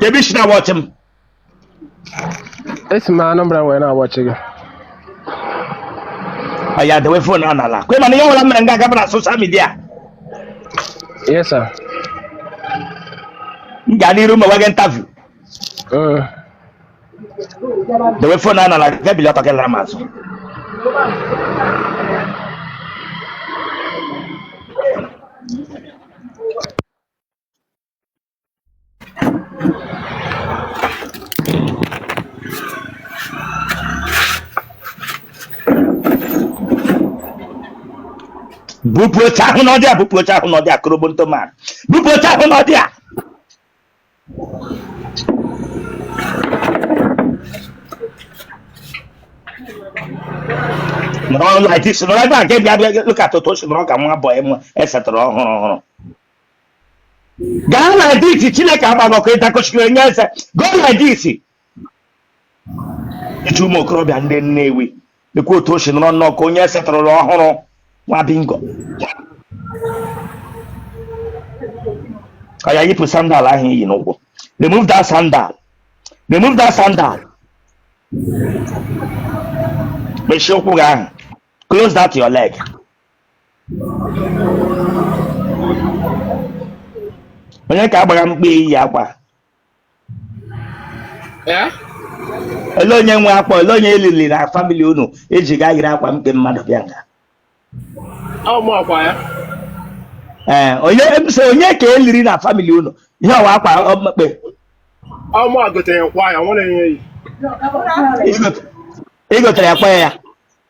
Kedu i si na-awatch m? Esi m Anambra wee na-awatch gị. Oya dewe fon a n'ala. Kwe m na ihe ọbụla mere nga a ga-aba na social media. Yes, sir. M ga n'iru ma gbaa gị interview. Mm. Dewe fon a n'ala gị bilie ọtọ gị laara m azụ. Bupụ oche ahụ n'ọdị a, bupụ oche ahụ n'ọdị a, korobonto man. Bupụ oche ahụ n'ọdị a. nọrọ like this nọrọ ebe a nke bịa bịa look at otu o si nọrọ ka nwa bọyị m e setara ọhụrụ ọhụrụ gaa like this Chineke gbaa gị ọkụ ị dị ka ochikere nye eze go like this iji ụmụ okorobịa ndị Nnewi lekwa otu o si nọrọ nnọọ ka onye e setụrụrụ ọhụrụ nwa bingo oya yipụ sandal ahụ i yi n'ụkwụ remove that sandal remove that sandal mechie ụkwụ gị ahụ close that your leg onye ka ị gbara mkpe i yi akwa Eh? Ele onye nwe akwa, ele onye e liri na family unu i ji gaa yiri akwa mkpe mmadụ bịa nga? Ọ mụ akwa ya. Ee, eh, onye ebise onye ka e liri na family unu? Ihe a wụ akwa mkpe. Ọ mụ gotere akwa ya, nwere enye yi. Ị gotere akwa ya?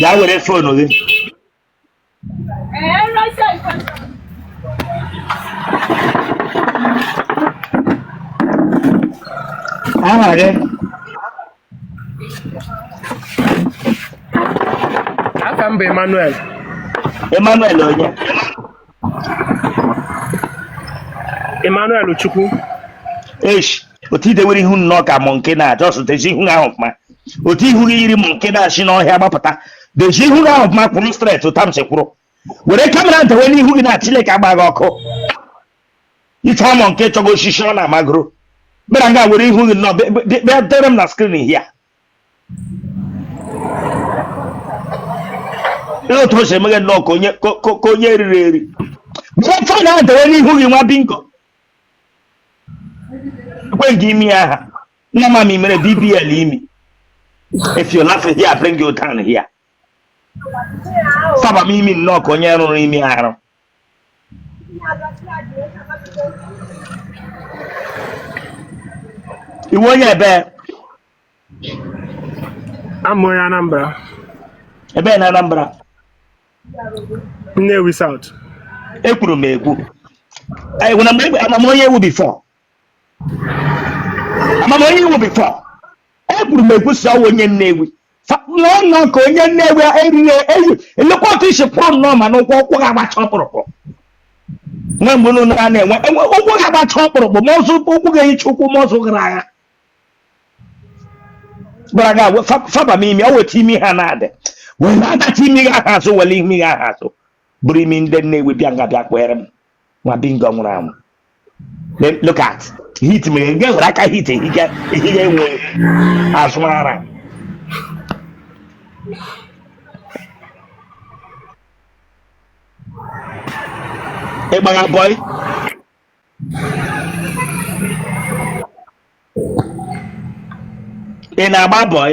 Ya were fonu gị. Aha gị? Aha m bụ Emmanuel. Emmanuel onye? Emmanuel Chukwu. Eish, otu i dewere ihu nnọọ ka monkey na-aja ọsụ dezie ihu ahụ ọfụma. Otu ihu gị yiri monkey na-esi n'ọhịa gbapụta. Dezie ihu gị ahụ ọfụma kwụrụ straight otu a m si kwụrụ. were kamera dewe n'ihu gị na chineke agba gị ọkụ ife a monkey chọgo osisi ọ na-amagoro bịara nga were ihu gị nọ be- be- be- bịa dewere m na skrin hia ihe otu o si emeghe nnọọ ka onye ka- ka ka onye riri eri were fon ahụ dewe n'ihu gị nwa bingo lekwe gị imi aha nnama i mere bbl imi if you laugh here bring you down here faba m imi nnọọ ka onye rụrụ imi arụ ị wụ onye ebee A wụ m onye Anambra, ebee na Anambra Nnewi South. ekwuru m ekwu Anyị- na mgbe- ama m onye ị wụ bifọ ama m onye ị wụ bifọ ekwuru m ekwu sị ọ wụ onye nnewi nnọọ ka onye nnewi e riri eri lekwa otu isi pụọ nnọọ ma n'ụkwụ ụkwụ ga agbacha ọkpụrụkpụ nwe mgbe unu na na-enwe enwe ụkwụ ga agbacha ọkpụrụkpụ ma ọzọ ụkwụ ga-ehicha ụkwụ ma ọzọ gara agha gwara gị agwa fa- faba m imi ọ weta imi ha na-adị wee na-adata imi gị aha azụ were imi gị aha azụ buru imi ndị Nnewi bịa nga bịa kpọere m nwa bingo nwụrụ anwụ look at hit mere nga were aka hit ehige ehige enwe azụmara ị gbagha bọị ị na-agba bọị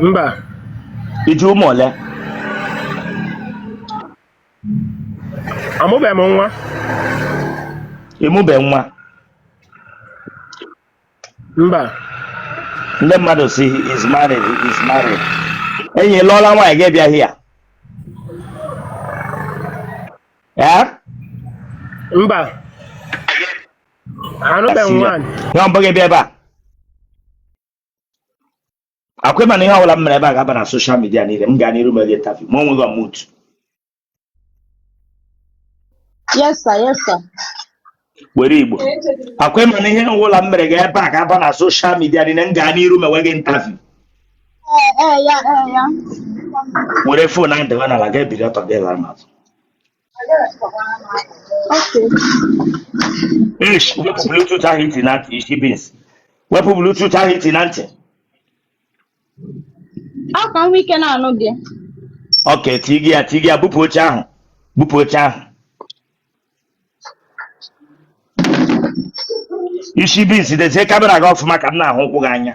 mba i ji ụmụ ole amụbeghị m nwa ị mụbe nwa mba ndị mmadụ sị is married is married enyi ị lụọla nwaanyị gị bịa hia ee mba anụbeghị m nwaanyị nwa mbụ gị bịa ebe a a kwa ị ma na ihe ọbụla m mere ebe a ga-aba na soshal midia niile m gaa n'iru mere interview ma o nweghị ọmụt yes sir yes sir were igbo a kwa ị ma na ihe ọbụla m mere ga ebe a ga-aba na soshal midia niile m gaa n'iru mewe gị interview ee ee ya ee ya were fon ahụ dewe n'ala gị ebili ọtọ gị lara m azụ Ish, wepụ Bluetooth ahụ iti na ntị, ishi beans. Wepụ Bluetooth ahụ iti na ntị. Ọ ka m nwee ike na-anụ gị. Ok, tii gị ya, tii gị ya, bupụ oche ahụ. Bupụ oche ahụ. Ishi beans, dezie kamera gị ọfụma ka m na-ahụ ụkwụ gị anya.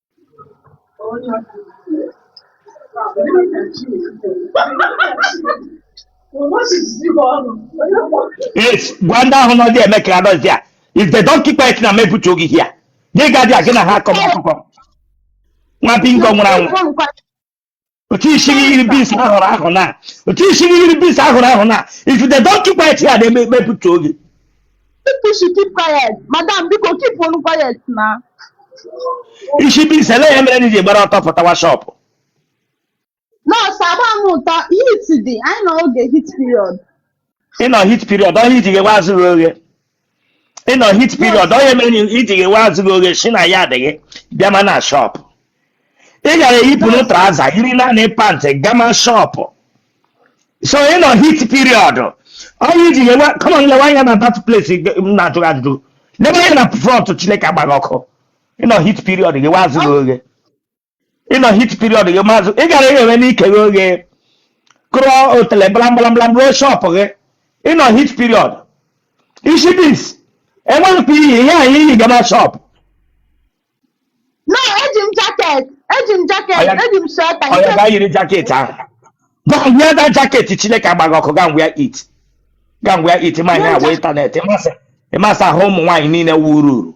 Yes, gwa ndị ahụ nọ there eme ka anọzi a. If they don't keep quiet na m ebutuo gị here. Gị gaa there gị na ha akọma akụkọ. Nwa bingo nwụrụ anwụ. otu isi gị yiri beans a hụrụ ahụ na otu isi gị yiri beans a hụrụ ahụ na if they don't keep quiet ya na-eme ekpe pụta oge People should keep quiet. Madam, biko keep on quiet na. isi beans ele ya mere na i ji gbara ọtọ pụtawa shop No sir agba m ọtọ heat dị anyị nọ oge heat period. ị nọ heat period ọ ihe i ji ghewe azụ gị oghe ị nọ heat period ọ ihe mere na i ji ghewe azụ gị oghe si na ya adịghị bịama na shop ị gara eyipụrụ trouser yiri naanị pant gama shop so ị nọ heat period ọ ihe i ji ghewe come on lewe anya na that place m na-ajụ gị ajụjụ lewe anya na front chineke agba gị ọkụ ị nọ heat period ghewe azụ gị oghe ị nọ heat period gị maazị ị gara eghewe ike gị oghe kụrụ otele blamblamblam ruo shop gị ị nọ heat period isi beans enweghịkwa iyi ihe anyị iyi gaba shop na eji m jacket eji m jacket Ọya- eji m sweater ọya nke gaa yiri jacket ahụ go and wear the jacket chineke agba gị ọkụ go and wear it go and wear it ma ihe agwa internet ị ma sị ahụ ụmụ nwaanyị niile wụrụ uru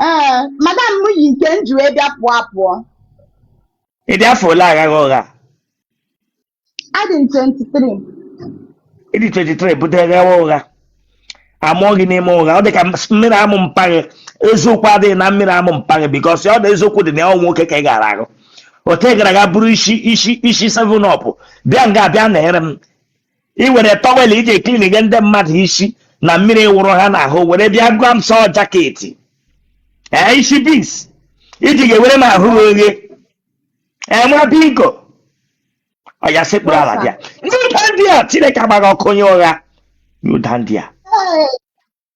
ee madam m yi nke m ji wee bịa pụọ apụọ ị dị afọ ole aghaghị ụgha adị m 23 ị dị 23 bido ghawa ụgha amụọ gị n'ime ụgha ọ dị ka mmiri amụ mpa gị eziokwu adịghị na mmiri amụ mpa gị because ọ na eziokwu dị na ya ọ nwoke ka ị gara awụ ote gara aga bụrụ isi isi isi seven up bịa nga bịa na-ere m i were towel e ji eclean nye ndị mmadụ isi na mmiri wụrụ ha n'ahụ were bịa gwa m sị ọ jacket ee isi beans i ji ghewere m ahụ gị oghe ee nwa bingo ọya sekpuru ala bịa kneel down there chineke agba gị ọkụ onye ụgha kneel down there Ee,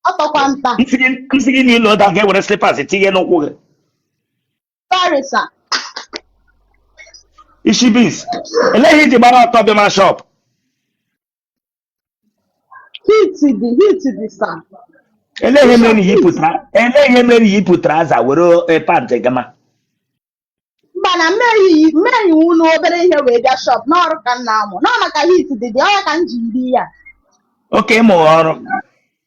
ọ tọkwa nta. m sị gị m sị gị kneel down gaa were slippers tinye n'ụkwụ gị Sorry, sir. isi beans elee ihe i ji gbara ọtọ bịa ma shọp Heat dị heat dị sir. elee ihe mere na i yipụtara elee ihe mere na i yipụtara aza were eh, pant gama Mba na mmeri mmeri iwu na obere ihe wee bịa shop n'ọrụ ka m na-amụ. N'ọ maka heat dị dị ọ ya ka m ji yiri ya. okay ịmụ ọrụ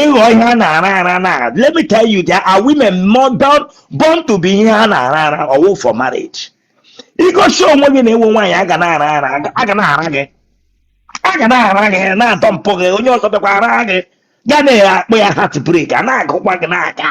ịghọ ihe a na-ara ara na let me tell you there are women more born, born to be ihe a na-ara ara ọ wụghị for marriage i gosi onwe gị na ị wụ nwaanyị a ga na-ara ara a ga na-ara gị a ga na-ara gị na-adọmpụ gị onye ọzọ bịakwa ara gị ga na-akpọ ya heartbreak a na-agụkwa gị n'aka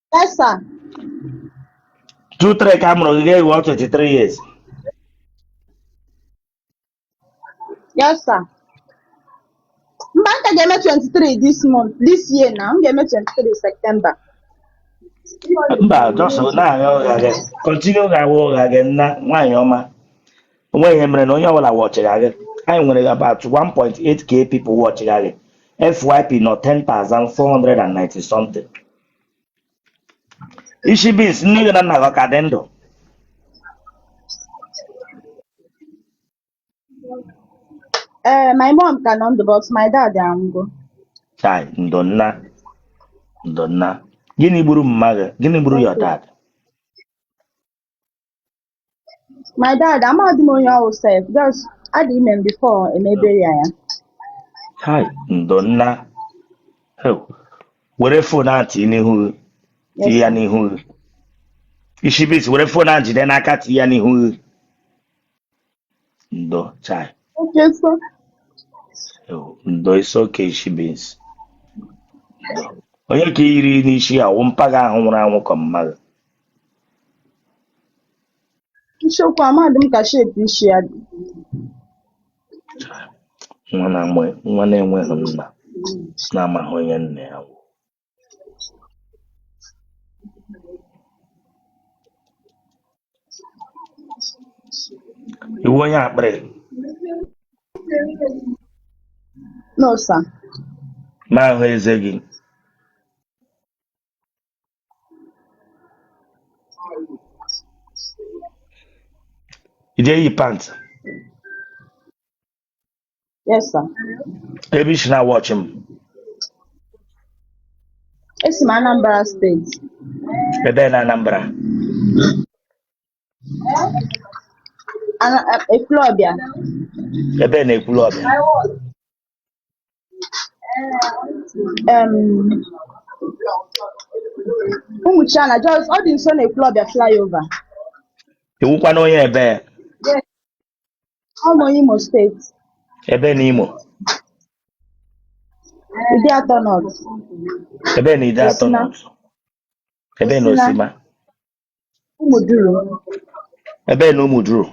Yes, sir. 2003 ka a mụrụ gị ga-awụ 23 years Yes, sir. Mba, m ka ga-eme 23 this month, this year na, m ga-eme 23 September. mba just na-agha ụgha gị continue ghawa ụgha gị nna nwaanyị ọma o nwe ihe mere na onye ọbụla wọchịga gị anyị nwere about 1.8k people wọchịga gị fyp nọ 10,490 something Isi beans nne gị na nna gị ha ka dị ndụ? Ee, my mom ka nọ ndụ but my dad anwụgo. Chai, ndo nna, ndo nna. Gịnị gburu mpa gị? Gịnị gburu your dad? my dad amaghị m onye ọ wụ sef just a dị ime m before emebe ya ya Hai, ndo nna. Heu, were fon ahụ tinye n'ihu gị, yes tinye ya sir n'ihu gị. Ishi beans, were fon ahụ jide n'aka tinye ya n'ihu gị. Ndo, chai. okay sir Heu, ndo it's okay ishi beans. Ndo. Onye ka i yiri n'isi ya, wụ mpa gị ahụ nwụrụ anwụ ka mma gị. Eziokwu amadị m ka shape isi ya dị. nwa na-amụ nwa na-enweghị nna na-amaghị onye nna ya bụ ị wụ onye akpịrị No, sir. m na-ahụ eze gị ị ga-eyi pant Yes, sir. ebee i si na-awọchị m Esi m Anambra sir. ebee na Anambra Ana- Ekwulọbịa. ebee na Ekwulọbịa um, Ụmụchiana just ọ dị nso na Ekwulọbịa flyover ị wụkwanụ onye ebee ọ onye Imo steeti ebee na Imo Ideato nọt ebee na Ideato Osina. n'ụzọ ebee na Osina. Osina Ụmụduru Ebee na Ụmụduru?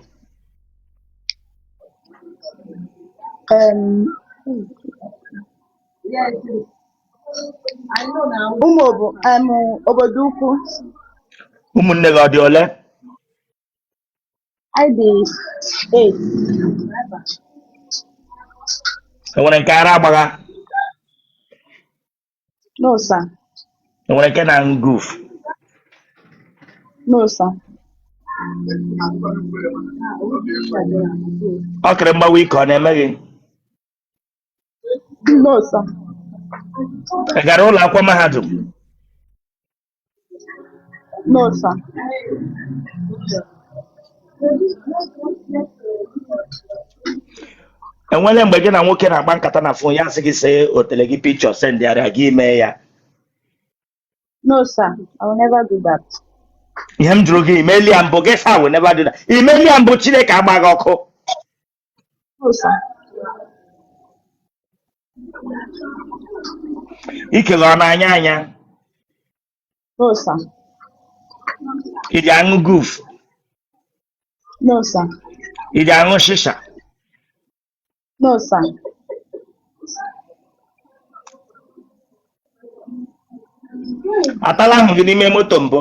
em, ụmụ obo em, Obodoukwu Ụmụnne gị ọ dị ole? anyị dị eight E nwere nke ara agbagha? No, sir. E nwere nke na-aṅụ guf? No, sir. Ọkịrị mgbawa ike ọ na-eme gị? No, sir. Ị gara ụlọ akwụkwọ mahadum? No, sir. e nwere mgbe gị na nwoke na-agba nkata na fon ya asị gị see otele gị pikchọ sendịara ya gị emee ya No, sir. I will never do that. ihe m jụrụ gị i meela ya mbụ gị sị I will never do that i meela ya mbụ Chineke agbaa gị ọkụ ikele ọ na-anya anya No, sir. ị ji aṅụ guf No, sir. ị ji aṅụ shisha No, sir. a taala ahụ gị n'ime moto mbụ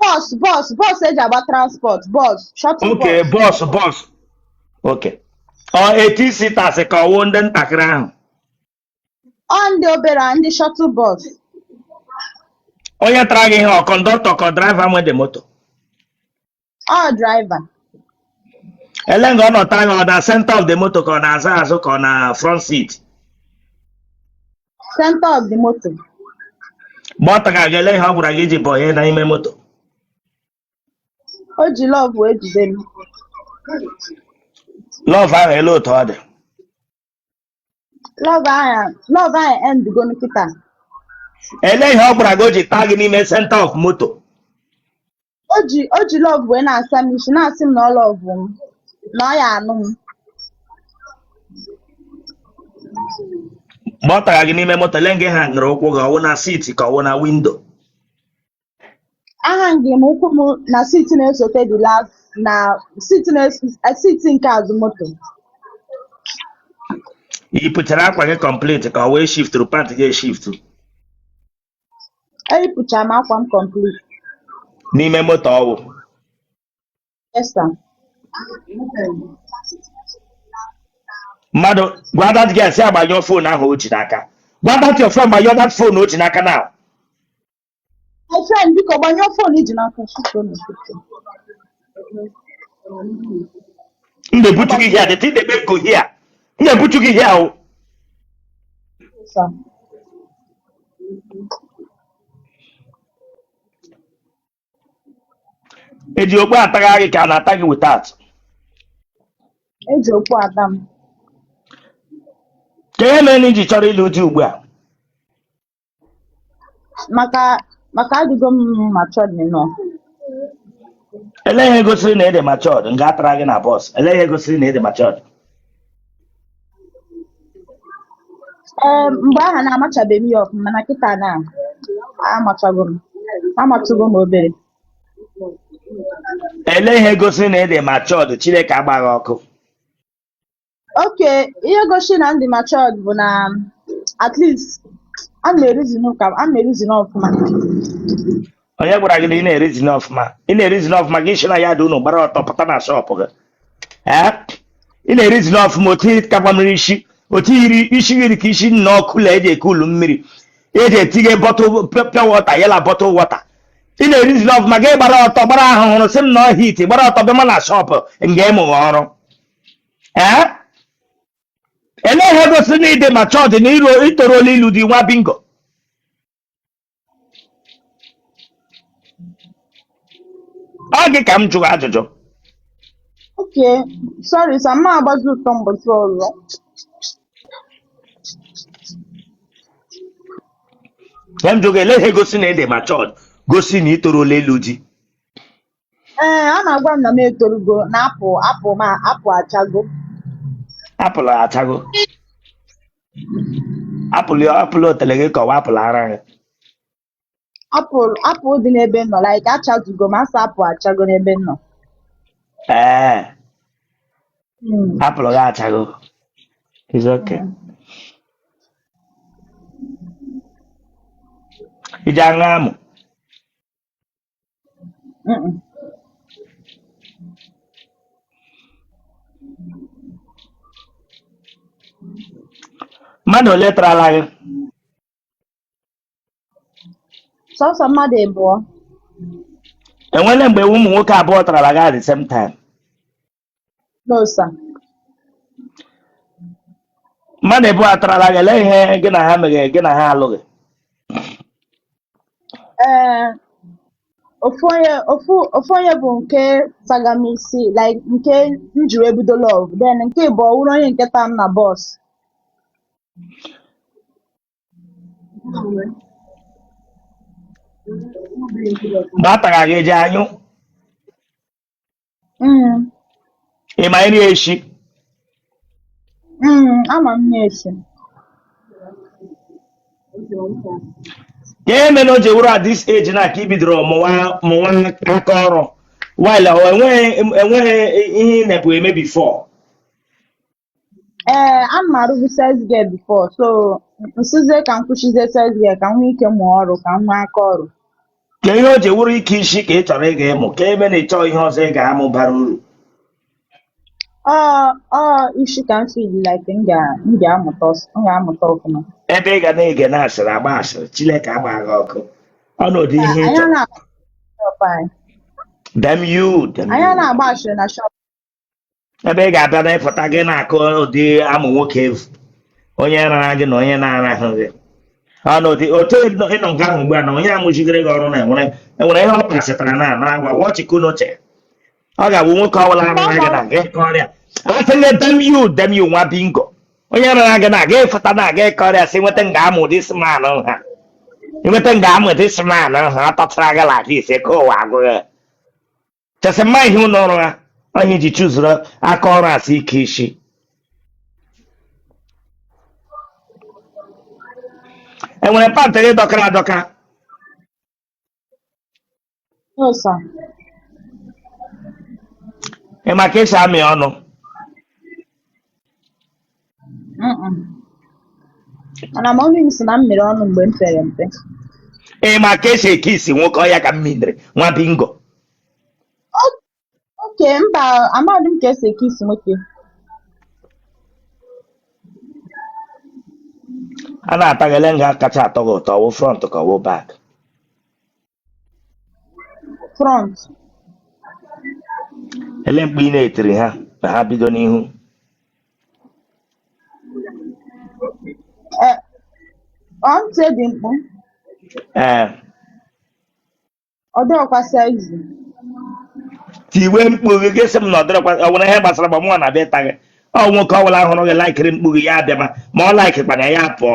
bọs bọs bọs e ji agba transport bọs shọtụl oke bọs bọs bọs oke ọ eighteen seaters ka ọ wụ ndị ntakịrị ahụ ọ ndị obere a, ndị shọtụl bọs onye tara gị ihe ọ kọndọktọ ka draiva nwe the moto ọ draiva ele nga ọ nọ taa gị ọ na senta of the moto ka ọ n'azụ azụ ka ọ na front seat Center of the motor. Mgbe ọ tara gị ele ihe ọ gwara gị ji bụ onye n'ime moto. O ji love wee jide m. Lọv ahụ ele otu ọ dị. Love ahụ love ahụ endgo nkịta. Ele ihe ọ gwara gị o ji taa gị n'ime center of moto. o ji o ji lọvụ wee na-asa m isi na-asị m na ọ lọvụ m na ọ ya anụ m mgbe ọ tara gị n'ime moto lee nga a hangara ụkwụ gị ọwụ na siti ka ọwụ na windo ahangị m ụkwụ m na siti na-esote the last na siti na-eso- eh, siti nke azụ moto ị pụchara akwa gị kọmpliti ka ọwụ e shifturu pant gị eshiftu eyipụcha m akwa m complete n'ime moto ọwụ yes sir mmadụ gwa that girl sị ya gbanyụọ fon ahụ o ji n'aka gwa that your friend gbanyụọ that fon o ji n'aka na my friend biko gbanyụọ fon i ji n'aka Shut up, shut up. m na-ebutu gị ihe a the thing dey make go here m na-ebutu gị ihe ọwụ e ji okpu atagha gị ka a na-ata gị without e ji okpu ata m kee ihe mere na i ji chọrọ ịlụ di ugbu a maka maka adịgo m matured enough Ele ihe gosiri na ị dị matured nga a tara gị na bọs. Ele ihe gosiri na ịdị matured. ee mgbe ahụ na-amachabeghị m ihe ọfụma mana kịta na amachago m amatugo m obere Ele ihe gosiri na ị dị matured Chineke agba gị ọkụ. okay ihe gosi na m dị matured bụ na at least ana m erizin ana m erizin ọfụma onye gwara gị na ị na-erizin ọfụma ị na-erizin ọfụma gị si na ya dị unu gbara ọtọ pụta na shọpụ gị ee ị na-erizin ọfụma otu iri kakwa mmiri isi otu iri isi gị dị ka isi nna ọkụ la eji eke ulu mmiri eji etinye bọtụl piọ wọta ya la bọtụl wọta ị na-erizin ọfụma gị gbara ọtọ gbara ahụhụrụ sị m na ọ heat gbara ọtọ bịa ma na shọpụ nga ị mụgha ọrụ ee elee ihe gosi na ị dị matured na iru i torola ịlụ di nwa bingo ọ gị ka m jụrụ ajụjụ okay sọrị sa m ma agbazi ọtọ mbọchị ọzọ ihe m jụrụ elee ihe gosi na ị dị matured gosi na i torola ịlụ di ee a na-agwa m na m etorugo na apụl apụl m apụl achago apụl achago apụl apụl otele gị ka ọwụ apụl ara gị apụl apụl dị n'ebe m nọ like achazugo m asa apụl achago n'ebe m nọ ee Mm. apụl gị achago It's okay. i ji aṅụ amụ mmadụ ole tarala gị sọsọ mmadụ ịbụọ enwere mgbe ụmụ nwoke abụọ tarala gị at the same time No, sir. mmadụ ịbụọ atarala gị lee ihe gị na ha meghe gị na ha alụghị Eh, ofu onye ofu ofu onye bụ nke taga m isi like nke m jiri ebido love then nke bụ ọ wụrụ onye nke ta m na bus mgbe a tara gị eji anyụ Mm, ị ma nri eshi mm, ama m na-esi. ihe mere o ji wụrụ at this age na ka i bidoro mụwa mụwa aka ọrụ while ọ enwere enwere ihe ị na-ebu eme before ee ana m arụbu sales girl before so m sịzie ka m kwụsịzie sales girl ka m nwee ike mụọ ọrụ ka m nwee aka ọrụ kee ihe o ji wụrụ ike isi ka ị chọrọ ịga ịmụ ka ebe na ị chọọ ihe ọzọ ị ga-amụ bara uru ọ ọ isi ka m feel like m ga m ga-amụta ọs- m ga-amụta ọfụma ebe ị ga na-ege na asịrị agba asịrị chineke agba gị ọkụ ọnọdụ ihe ị anyị chọrọ anaghị agba shop anyị damn you damn you anyị anaghị agba ashịrị na shop ebe ị ga-abịa na ịpụta gị na-akọ ụdị amụ nwoke evu onye rara gị na onye na-arahụ gị ọnụ ụdị otu ịnọ nke ahụ ugbu a na onye amụchigere gị ọrụ na enwere enwere ihe ọ kpasịtara na na agwa wọchịkụ n'uche ọ ga-abụ nwoke ọbụla rara gị na gị kọrịa atịle damn you damn you nwa bingo onye rara gị na gị ịfụta na gị kọrịa si nweta nga amụ ụdị sman ha nweta nga amụ ụdị sman ha ọ tọtara gị la gị ise ka ụwa agụghị chasị mma ihe ụlọ ọrụ ha ọ ihe i ji chụzuru aka ọrụ a sị ike isi enwere pant gị dọkara adọka No, sir. ị ma ka esi amị ọnụ Mm-mm. mana mommy m sị na m mịrị ọnụ mgbe m pere mpe ị ma ka esi eke isi nwoke ọya ka m mindere nwa bingo oke mba amadị m ka esi eke isi nwoke a na-ata gị ele nga kacha atọ gị ụtọ ọ wụ front ka ọ wụ back front ele mkpu ị na-etiri ha na ha bido n'ihu eh, ọ ntị dị mkpụ ee ọ dịghịkwa saizi tiwe mkpu gị gị sị m na ọ dịrịkwa ọ nwere ihe gbasara m ọ mụnwa na-abịa ịta gị ọ nwoke ọ bụla hụrụ gị laikiri mkpu gị ya abịa ma ma ọ laikikwana ya ya pụọ